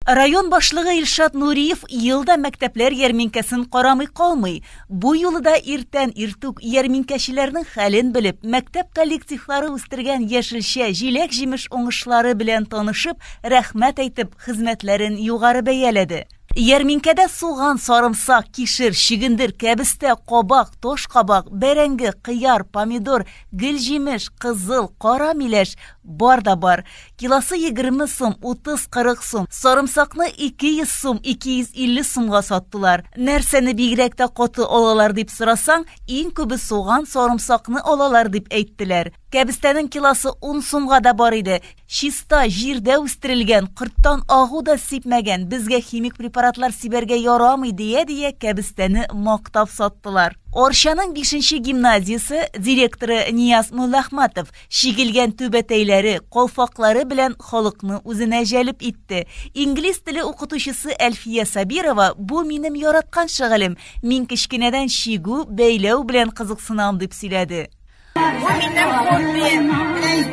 Район башлыгы Илшат Нуриев ел да мәктәпләр ярминкәсен карамый калмый. Бу юлы да иртән иртүк ярминкәчеләрнең хәлен белеп, мәктәп коллективлары үстергән яшелчә, җиләк-җимеш уңышлары белән танышып, рәхмәт әйтеп, хезмәтләрен югары бәяләде. Ярминкәдә суган, сарымсак, кишер, чөгендер, кәбестә, кабак, тош кабак, бәрәңге, кыяр, помидор, гел җимеш, кызыл, кара миләш, Бар да бар. Килосы егерме сум, утыз-кырык сум. Сарымсакны ике йөз сум, ике йөз илле сумга саттылар. Нәрсәне бигрәк тә каты алалар дип сорасаң, иң күбе суган, сарымсакны алалар дип әйттеләр. Кәбестәнең килосы ун сумга да бар иде. Чиста, җирдә үстерелгән, корттан агу да сипмәгән, безгә химик препаратлар сибәргә ярамый, дия-дия, кәбестәне мактап саттылар. Арчаның бишенче гимназиясе директоры Нияз Муллахматов Чигелгән түбәтәйләре, калфаклары белән халыкны үзенә җәлеп итте. Инглиз теле укытучысы Әлфия Сабирова, бу минем яраткан шөгылем, мин кечкенәдән чигү, бәйләү белән кызыксынам, дип сөйләде. Бу минем хоббием.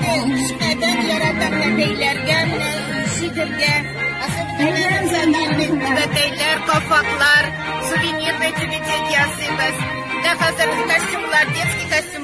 Кечкенәдән яратам да бәйләргә, чигергә. Түбәтәйләр, калфаклар, сувенирный түбәтәй ясыйбыз. Менә хәзер костюмнар, детский костюм.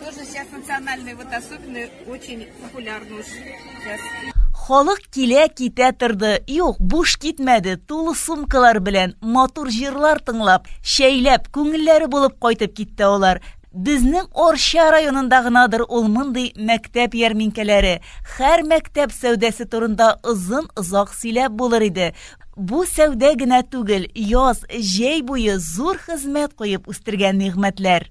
Тоже сейчас национальные вот особенные очень популярны уж сейчас. Халык килә китә торды. Юк, буш китмәде. Тулы сумкалар белән, матур җырлар тыңлап, шәйләп, күңелләре булып кайтып китте алар. Безнең Орча районында гынадыр ул мондый мәктәп ярминкәләре. Хәр мәктәп сәүдәсе турында озын озак сөйләп булыр иде. Бу сәүдә генә түгел, яз, җәй буе зур хезмәт куеп үстергән нигъмәтләр.